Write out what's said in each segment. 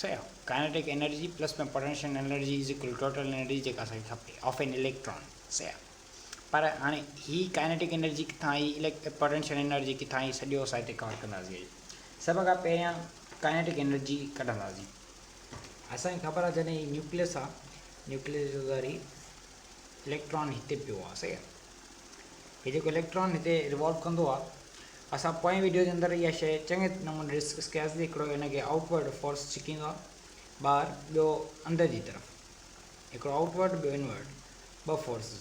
سيء kinetic energy plus ۾ potential energy is equal to total energy جيڪا اسان کي کپي آف اين اليڪٽران سيء پر هاڻي هي ڪائنيٽڪ انرجي ڪٿان آئي اليڪٽ پوٽينشل انرجي ڪٿان آئي سڄو اسان هتي ڪور ڪنداسين سڀ کان پهريان ڪائنيٽڪ انرجي ڪڍنداسين اسان کي خبر آهي جڏهن هي نيوڪليس آ نيوڪليس جو ذري اليڪٽران هتي پيو آ سيء هي جيڪو اليڪٽران هتي ريوالو ڪندو آ اسان پوئين وڊيو جي اندر اها شيء چڱي نموني ڊسڪس ڪياسي هڪڙو ان کي آئوٽ ورڊ فورس ڇڪيندو آهي ٻاهر ٻيو اندر جي طرف هڪڙو آئوٽ ورڊ ٻيو ان ورڊ ٻه فورسز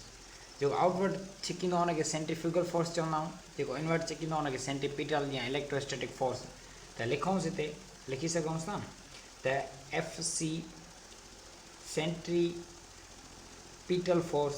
جيڪو آئوٽ ورڊ ڇڪيندو آهي ان کي سينٽريفيوگل فورس چوندا آهيون جيڪو ان ورڊ ڇڪيندو آهي ان کي سينٽريپيٽل يا اليڪٽروسٽيٽڪ فورس ته لکونس هتي لکي سگهون ٿا نه ته F C centripetal force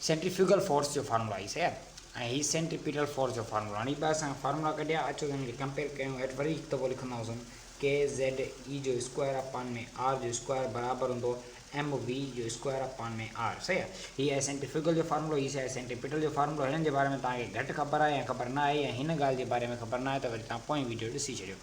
centrifugal force جو فارمولا هي سياد ۽ هي سينٽريپيٽل فورس جو فارمولا هاڻي ٻه اسان فارمولا ڪڍيا اچو ته هن کي ڪمپيئر ڪيون هيٺ وري هڪ دفعو لکنداسون ڪي زيڊ اي جو اسڪوائر اپان ۾ آر جو اسڪوائر برابر هوندو ايم وي جو اسڪوائر اپان ۾ آر سهي هي آهي سينٽريفيوگل جو فارمولو هي سهي سينٽريپيٽل جو فارمولو هنن جي باري ۾ توهان کي گهٽ خبر آهي يا خبر نه آهي يا هن ڳالهه جي باري ۾ خبر نه آهي ته وري توهان پوئين ويڊيو ڏسي ڇڏيو.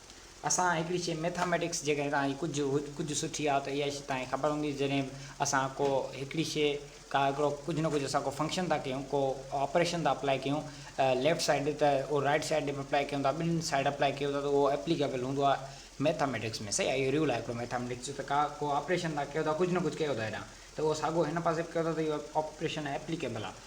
اسان هڪڙي شيء Mathematics جيڪڏهن توهان کي ڪجهه ڪجهه سٺي آ ته اها شيء توهان کي خبر هوندي جڏهن به اسان ڪو هڪڙي شيء ڪا هڪڙو ڪجهه نه ڪجهه اسان ڪو فنڪشن ٿا ڪيون ڪو آپريشن ٿا اپلائي ڪيون ليفٽ سائيڊ ته اهو رائيٽ سائيڊ ڏي به اپلائي ڪيون ٿا ٻنهي سائيڊ اپلائي ڪيون ٿا ته اهو اپليڪيبل هوندو آ Mathematics ۾ صحيح آ اهو رول آ هڪڙو Mathematics جو ته ڪا ڪو آپريشن ٿا ڪيو ٿا ڪجهه نه ڪجهه ڪيو ٿا هيڏانهن ته اهو ساڳو هن پاسي به ڪيو ٿا ته اهو آپريشن اپليڪيبل آ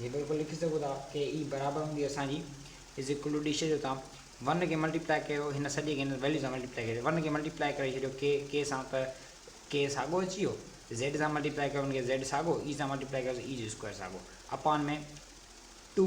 جي بلڪل لکي سگهو ٿا ڪي اي برابر هوندي اسان جي از ايڪول ٽو ڊي سجهو ٿا ون کي ملٽي پلائي ڪيو هن سڄي کي هن ويليو سان ملٽي پلائي ڪيو ون کي ملٽي پلائي ڪري ڇڏيو ڪي ڪي سان ته ڪي ساڳو اچي ويو زيڊ سان ملٽي پلائي ڪيو هن کي زيڊ ساڳو اي سان ملٽي پلائي ڪيو اي جو اسڪوائر ساڳو اپان ۾ ٽو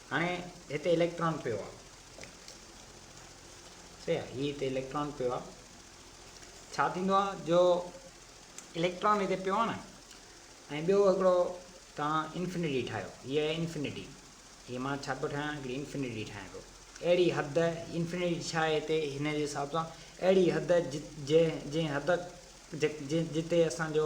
هاڻي هتي اليڪٽران پيو آهي صحيح آهي هي هتي اليڪٽران پيو آهي ڇا ٿيندو آهي جو اليڪٽران هتي پيو آهي نه ۽ ٻيو هڪڙو تان انفنيٽي ٺاهيو هي آهي انفنيٽي هي مان ڇا پيو ٺاهيان هڪڙي انفنيٽي ٺاهيان پيو اهڙي حد انفنيٽي ڇا آهي هتي هن جي حساب سان اهڙي حد جنهن جنهن حد جتي اسان جو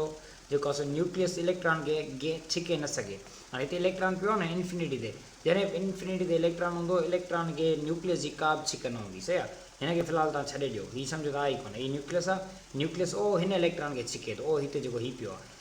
جيڪو آهي سو نيوڪليس اليڪٽران کي اڳتي ڇڪي نه سگهي. هاڻي هتي اليڪٽران پيو آهي نه انفنٽي تي، جڏهن به انفنٽي تي اليڪٽران هوندو، اليڪٽران کي نيوڪليس جي ڪا به ڇڪ نه هوندي، صحيح آهي. هن کي في الحال توهان ڇڏي ڏيو، هي سمجهو ته آهي ئي ڪونه، هي نيوڪليس آهي، نيوڪليس او هن اليڪٽران کي ڇڪي ٿو، او هتي جيڪو هي پيو آهي،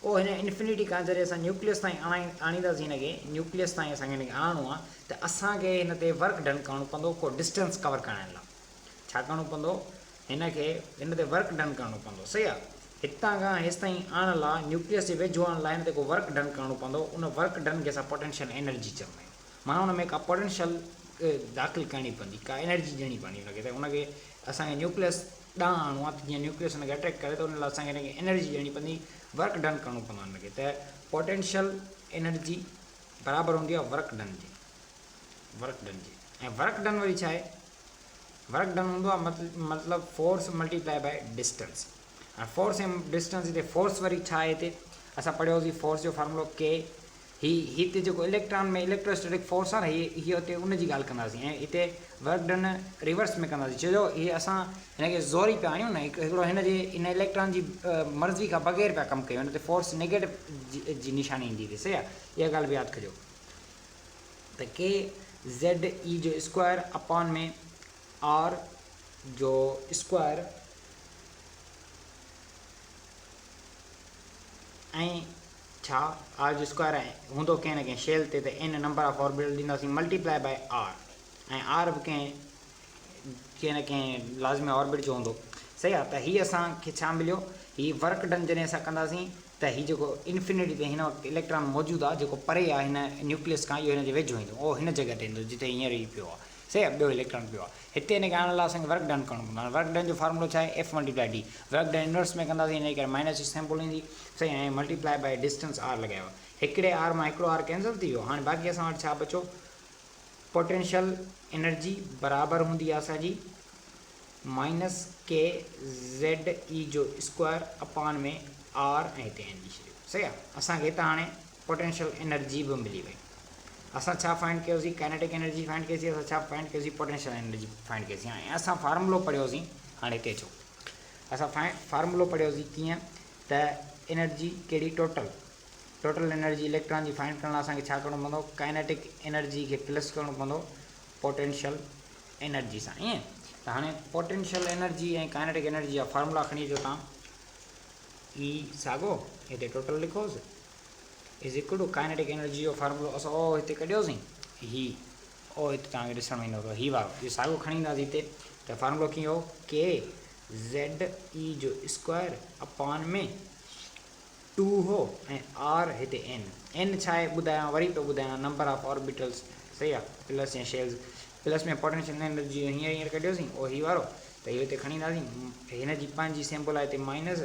پوء هن انفنٽي کان جڏهن اسان نيوڪليس تائين آڻينداسين هن کي، نيوڪليس تائين اسان کي هن کي آڻڻو آهي ته اسان کي هن تي ورڪ ڊن ڪرڻو پوندو ڪو ڊسٽنس ڪور ڪرائڻ لاء ڇا ڪرڻو پوندو هن کي هن تي ورڪ ڊن ڪرڻو پوندو صحيح آهي هتان کان هيستائين آڻڻ لاء نيوڪليس جي ويجهو آڻڻ لاء هن تي ڪو ورڪ ڊن ڪرڻو پوندو ان ورڪ ڊن کي اسان پوٽينشل انرجي چوندا آهيون معنيٰ ان ۾ ڪا پوٽينشل داخل ڪرڻي پوندي ڪا انرجي ڏيڻي پوندي هن کي ته هن کي اسان کي نيوڪليس ڏانهن آڻو آهي ته جيئن نيوڪليس ان کي اٽريڪٽ ڪري ته ان لاء اسان کي ان کي انرجي ڏيڻي پوندي ورڪ ڊن ڪرڻو پوندو آهي ان کي ته پوٽينشل انرجي برابر هوندي آهي ورڪ ڊن جي ورڪ ڊن جي ۽ ورڪ ڊن وري ڇا آهي ورڪ ڊن هوندو آهي مطلب force multiply by distance ۽ force ۽ distance هتي فورس وري ڇا آهي هتي اسان پڙهيوسي فورس جو فارمولو ڪي هي هتي جيڪو اليڪٽران ۾ اليڪٽرواسٽيٽڪ فورس آهي نه هي هتي ان جي ڳالهه ڪنداسين ۽ هتي ورڪ ڊن ريورس ۾ ڪنداسين ڇو جو هي اسان هن کي زوري پيا آڻيون نه هڪڙو هن جي هن اليڪٽران جي مرضي کان بغير پيا ڪم ڪيون هن تي فورس نيگيٽو جي نشاني ايندي تي صحيح آهي اها ڳالهه به ياد ڪجو ته ڪي زيڊ اي جو اسڪوائر اپان ۾ آر جو اسڪوائر ائين ڇا؟ آر جو اسڪوائر ۽ هوندو ڪنهن نه ڪنهن شيل تي ته اين نمبر آف آربيٽل ڏينداسين multiply by r ۽ r به ڪنهن ڪنهن نه ڪنهن لازمي آربيٽ جو هوندو صحيح آ ته هي اسان کي ڇا مليو هي ورڪ ڊن جڏهن اسان ڪنداسين ته هي جيڪو انفينٽي تي هن وقت اليڪٽران موجود آ جيڪو پري آ هن نيوڪليس کان اهو هن جي ويجهو ايندو اهو هن جڳهه تي ايندو جتي هينئر هي پيو آ سي اب ڏوهي لکڻ پيو آ هتي ان کي آڻڻ لاء اسان کي ورڪ ڊن ڪرڻو پوندو هاڻي ورڪ ڊن جو فارمولو ڇا آهي F multiply d work done inverse ۾ ڪنداسين انهي ڪري مائنس ايڇ سيمپل ايندي سائين ۽ ملٽيپلائي بائي ڊسٽنس آر لڳايو آ هڪڙي آر مان هڪڙو آر ڪينسل ٿي ويو هاڻي باقي اسان وٽ ڇا بچو پوٽينشل انرجي برابر هوندي آ اسان جي مائنس ڪي زيڊ اي جو اسڪوائر اپان ۾ آر ۽ هتي اين لکي ڇڏيو سهي آ اسان کي هتان هاڻي پوٽينشل انرجي به ملي وئي. اسان ڇا فائنڊ ڪيوسين؟ ڪائنيٽڪ انرجي فائنڊ ڪئي سين. اسان ڇا فائنڊ ڪيوسين؟ پوٽينشل انرجي فائنڊ ڪئي سين. ۽ اسان فارمولو پڙهيو سين. هاڻي هتي اچو. اسان فارمولو پڙهيو سين ڪيئن ته انرجي ڪهڙي ٽوٽل ٽوٽل انرجي اليڪٽران جي فائنڊ ڪرڻ لاء اسان کي ڇا ڪرڻو پوندو؟ ڪائنيٽڪ انرجي کي پلس ڪرڻو پوندو پوٽينشل انرجي سان. ائين ته هاڻي پوٽينشل انرجي ۽ ڪائنيٽڪ انرجي جا فارمولا کڻي اچو تان. اي ساڳو هتي ٽوٽل لکوس. Is equal to kinetic energy جو فارمولو اسان او هتي ڪڍيوسين هي او هتي توهان کي ڏسڻ ۾ ايندو هي وارو اهو ساڳيو کڻي اينداسي هتي ته فارمولو ڪيئن هو ڪي زيڊ اي جو اسڪوائر اپان ۾ ٽو هو ۽ آر هتي اين اين ڇا آهي ٻڌايان وري پيو ٻڌايان نمبر آف آربيٽلس صحيح آهي پلس يا شيلز پلس ۾ پوٽينشل انرجي جو هينئر هينئر ڪڍيوسين او هي وارو ته اهو هتي کڻي اينداسين هن جي پنهنجي سيمبل آهي هتي مائنس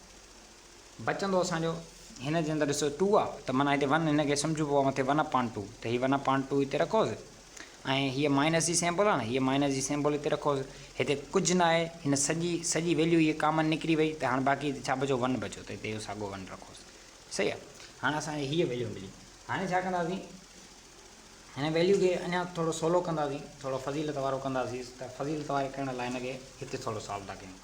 بچندو اسان جو هن جي اندر ڏسو ٽو آ ته معنيٰ هتي ون هن کي سمجهبو آ مٿي ون اپان ٽو ته هي ون اپان ٽو هتي رکوس ۽ هيء مائنس جي سيمبل آ نه هيء مائنس جي سيمبل هتي رکوس هتي ڪجهه نه آهي هن سڄي سڄي ويليو هيء ڪامن نڪري وئي ته هاڻ باقي هتي ڇا بچو ون بچو ته هتي اهو ساڳو ون رکوس صحيح آ هاڻ اسان کي هيء ويليو ملي هاڻي ڇا ڪنداسين هن ويليو کي اڃا ٿورو سولو ڪنداسين ٿورو فضيلت وارو ڪنداسين ته فضيلت واري ڪرڻ لاء هن کي هتي ٿورو سالو ٿا ڪيون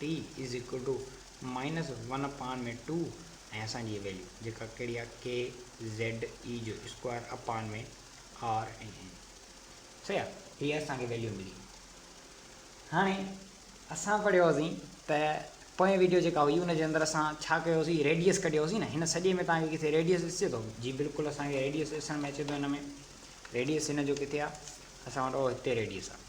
T is equal to minus one upon ۾ two ۽ اسان جي هي ويليو جيڪا ڪهڙي آهي ڪي زيڊ اي جو اسڪوائر اپان ۾ آر ۽ اين صحيح آهي هي اسان کي ويليو ملي هاڻي اسان پڙهيو هوسين ته پوئين ويڊيو جيڪا هئي ان جي اندر اسان ڇا ڪيو هوسين ريڊيس ڪڍيو هوسين نه هن سڄي ۾ تان کي کٿي ريڊيس ڏسجي ٿو جي بلڪل اسان کي ريڊيس ڏسڻ ۾ اچي ٿو هن ۾ ريڊيس هن جو کٿي آهي اسان وٽ هتي ريڊيس آهي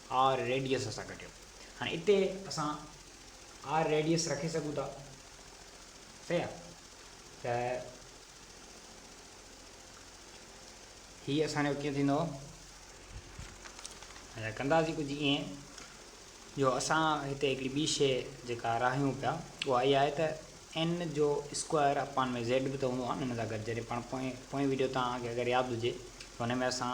آر ريڊيس سان ڪٽيو هاڻي اتي اسان آر ريڊيس رکي سگهون ٿا صحيح آ ته هي اسان جو ڪيئن ٿيندو اچا ڪنداسي ڪجهه ائين جو اسان هتي هڪڙي ٻي شي جيڪا راهيون پيا اها اها آهي ته ان جو اسڪوائر اپان ۾ زيڊ به ته هوندو آهي نه ان سان گڏ جڏهن پاڻ پوئين پوئين ويڊيو تان اگر ياد هجي ته هن ۾ اسان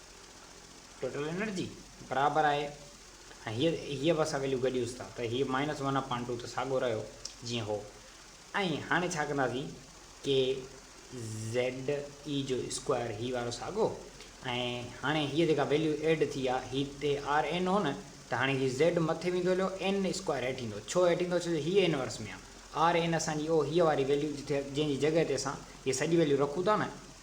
ٽوٽل انرجي برابر آهي ۽ هيء هيء به اسان ويليو گڏيوس ٿا ته هيء مائنس ون اپان ٽو ته ساڳو رهيو جيئن هو ۽ هاڻي ڇا ڪنداسين ڪي زيڊ اي جو اسڪوائر هي وارو ساڳو ۽ هاڻي هيء جيڪا ويليو ايڊ ٿي آهي هي تي آر اين هو نه ته هاڻي هي زيڊ مٿي ويندو هليو اين اسڪوائر هيٺ ايندو ڇو هيٺ ايندو ڇو جو هيء انورس ۾ آهي آر اين اسان جي او هيء واري ويليو جتي جنهن جي جڳهه تي اسان هيء سڄي ويليو رکون ٿا نه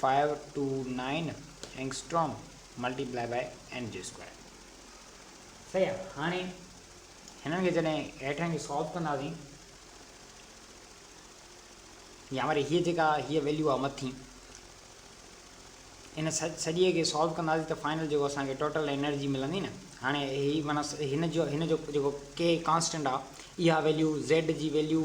five two nine angstrom multiply by m جي اسڪوائر صحيح آ هاڻي هنن کي جڏهن هيٺان کي سالو ڪنداسين يا وري هيء جيڪا هيء ويليو آ مٿي ان سڄي کي سالو ڪنداسين ته فائنل جيڪو اسان کي ٽوٽل انرجي ملندي نه هاڻي هي معنيٰ هن جو هن جو جيڪو ڪي ڪانسٽنٽ آ اها ويليو زيڊ جي ويليو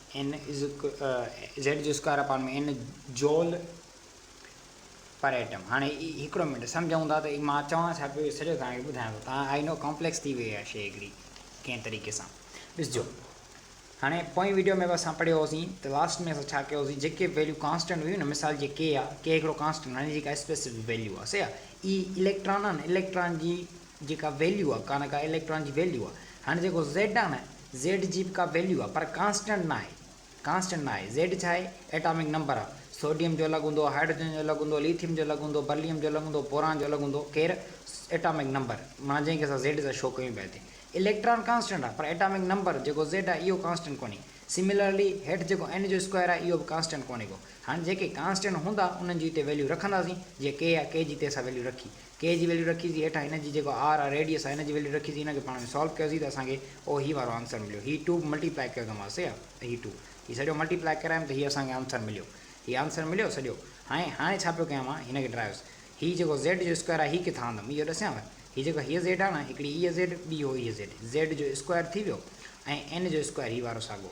ان زيڊ جو square upon ۾ in joule per atom. هاڻي هڪڙو منٽ سمجهون ٿا ته مان چوان ڇا پيو اهو سڄو توهان کي ٻڌايان ٿو توهان آئي نو ڪامپليڪس ٿي وئي اها شيء هڪڙي ڪنهن طريقي سان ڏسجو هاڻي پوئين وڊيو ۾ به اسان پڙهيو هوسين ته لاسٽ ۾ اسان ڇا ڪيو هوسين جيڪي ويليو ڪانسٽنٽ هيون نه مثال جي ڪي آهي ڪي هڪڙو ڪانسٽنٽ هاڻي جيڪا اسپيسفڪ ويليو آهي سي آهي اي اليڪٽران آهن اليڪٽران جي جيڪا ويليو آ ڪانه ڪا اليڪٽران جي ويليو آ هاڻي جيڪو زيڊ آ نه زيڊ جي به ڪا ويليو آ پر ڪانسٽنٽ ناهي ڪانسٽنٽ ناهي زيڊ ڇا آهي ايٽامڪ نمبر آ سوڊيم جو الڳ هوندو هائيڊروجن جو الڳ هوندو ليٿيم جو الڳ هوندو برليم جو الڳ هوندو بوران جو الڳ هوندو ڪير ايٽامڪ نمبر معنيٰ جنهن کي اسان زيڊ سان شو ڪيون پيا هتي اليڪٽران ڪانسٽنٽ آ پر ايٽامڪ نمبر جيڪو زيڊ آ اهو ڪانسٽنٽ ڪونهي سميلرلي هيٺ جيڪو اين جو اسڪوائر آ اهو به ڪانسٽنٽ ڪونهي ڪو هاڻي جيڪي ڪانسٽنٽ هوندا انهن جي هتي ويليو رکنداسين جيئن ڪي آ ڪي جي هتي اسان ويليو رکي ڪي جي ويليو رکيسين هيٺان هن جي جيڪو آر آ ريڊيس آ هن جي ويليو رکيسين هن کي پاڻ ۾ سالو ڪيوسين ته اسان کي او هي وارو آنسر مليو هي ٽو ملٽي پلائي ڪيو ته سي آ ته هي ٽو هي سڄو ملٽي پلائي ڪرايم ته هي اسان کي آنسر مليو هي آنسر مليو سڄو هاڻي هاڻي ڇا پيو ڪيان مان هن کي ڊرائيوس هي جيڪو زيڊ جو اسڪوائر آ هي ڪٿان آندم اهو ڏسيانو هي جيڪو هيء زيڊ آ نه هڪڙي هيء زيڊ ٻي هو هيء زيڊ زيڊ جو اسڪوائر ٿي ويو ۽ اين جو اسڪوائر هي وارو ساڳو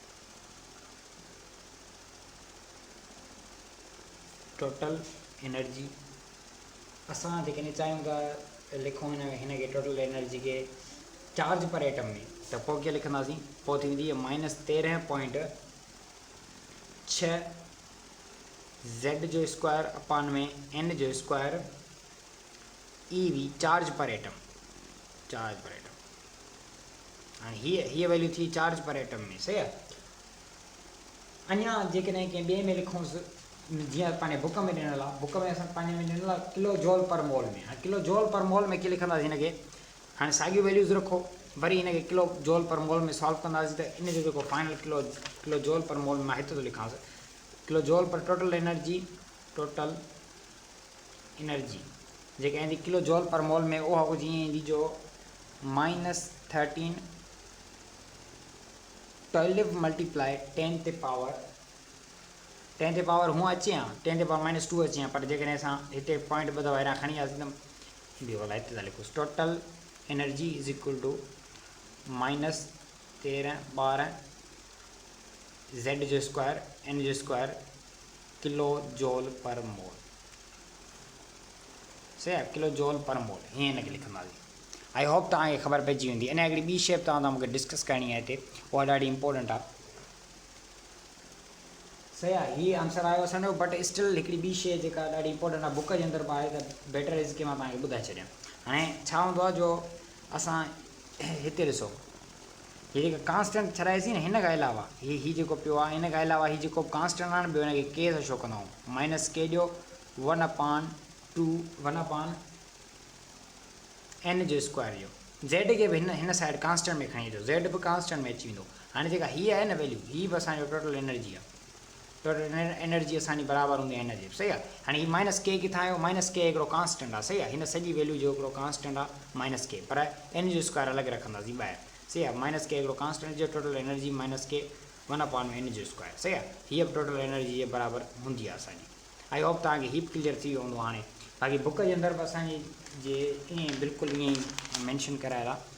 ٽوٽل انرجي اسان جيڪڏهن چاهيون ٿا لکون هن هن کي ٽوٽل انرجي کي چارج پر ايٽم ۾ ته پوء ڪيئن لکنداسين پوء ٿي ويندي مائنس تيرهن پوائنٽ ڇهه زيڊ جو اسڪوائر اپان ۾ اين جو square e V charge per atom charge per atom هاڻي هيء هيء ويليو ٿي چارج پر ايٽم ۾ صحيح آهي اڃا جيڪڏهن ڪنهن ٻئي ۾ لکونس جيئن پنهنجي بوڪ ۾ ڏنل آهي بوڪ ۾ اسان پنهنجي ۾ ڏنل آهي ڪلو جول پر مول ۾ هاڻي ڪلو جول پر مول ۾ ڪي لکنداسين هن کي هاڻي ساڳيون ويليوز رکو وري هن کي ڪلو جول پر مول ۾ سالو ڪنداسين ته ان جو جيڪو فائنل ڪلو ڪلو جول پر مول مان هت ٿو لکانس kilo joule per total energy total energy جيڪا ايندي ڪلو جول پر مول ۾ اها ڪجهه ائين ايندي جو minus thirteen twelve multiply ten تي پاور ٽين تي پاور هونء اچي ها ٽين تي پاور مائنس ٽو اچي ها پر جيڪڏهن اسان هتي پوائنٽ ٻه دفعا هيران کڻي وياسين ته ايندي ولا اتزاليڪوس total energy is equal to minus تيرهن ٻارهن زيڊ جو اسڪوائر ان جو اسڪوائر ڪلو جول پر مول صحيح آهي ڪلو جول پر مول ائين هن کي لکنداسين آئي هوپ توهان کي خبر پئجي ويندي انهيء هڪڙي ٻي شيء به توهان سان مون کي ڊسڪس ڪرڻي آهي هتي اها ڏاڍي امپورٽنٽ آهي صحيح آهي هي آنسر آيو اسان جو بٽ اسٽل هڪڙي ٻي شيء جيڪا ڏاڍي امپورٽنٽ آهي بوڪ جي اندر به آهي ته بيٽر از ڪي مان توهان کي ٻڌائي ڇڏيان هاڻي ڇا هوندو آهي جو اسان هتي ڏسو هي جيڪي ڪانسٽنٽ ٺھرائي سين هن کان علاوه هي هي جيڪو پيو آ هن کان علاوه هي جيڪو به ڪانسٽنٽ آن ٻيو هن کي ڪي سان شو ڪندائون مائنس ڪي ڏيو one upon two one upon n جو اسڪوائر ڏيو زيڊ کي به هن هن سائيڊ ڪانسٽنٽ ۾ کڻي اچو زيڊ به ڪانسٽنٽ ۾ اچي ويندو هاڻي جيڪا هي آهي نه ويليو هي به اسان جو ٽوٽل انرجي آ ٽوٽل انرجي اسان جي برابر هوندي هن جي صحيح آهي هاڻي هي مائنس ڪي ڪٿان آيو مائنس ڪي هڪڙو ڪانسٽنٽ آهي صحيح آهي هن سڄي ويليو جو هڪڙو ڪانسٽنٽ آهي مائنس ڪي پر ان جو اسڪوائر الڳ رکنداسين ٻاهر صحيح آهي مائنس ڪي هڪڙو ڪانسٽنٽ جو total energy minus k one upon ۾ ان جو اسڪوائر صحيح آهي هيء به ٽوٽل انرجي جي برابر هوندي آهي اسان جي آئي هوپ توهان کي هي به ڪليئر ٿي ويو هوندو هاڻي باقي بڪ جي اندر به اسان جي جي ائين بلڪل ائين مينشن ڪرايل آهي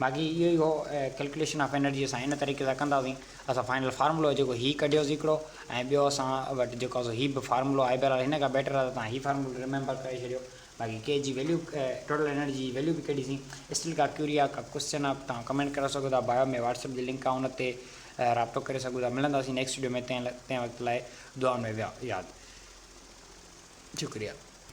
باقي اهو ئي هو ڪلڪليشن آف انرجي اسان ان طريقي سان ڪندا هئاسين اسان فائنل فارمولو جيڪو هي ڪڍيو سي هڪڙو ۽ ٻيو اسان وٽ جيڪو سو هي به فارمولو آهي بهرحال هن کان بيٽر آهي ته توهان هي فارمولو ريميمبر ڪري ڇڏيو باقي ڪي جي ويليو ٽوٽل انرجي جي ويليو به ڪڍي سين اسٽل ڪا ڪيوري آهي ڪا ڪوسچن آهي توهان ڪمينٽ ڪري سگهو ٿا بايو ۾ واٽس اپ جي لنڪ آهي ان تي رابطو ڪري سگهو ٿا ملنداسين نيڪسٽ ويڊيو ۾ تنهن وقت لاء دعائن ۾ ياد شڪريا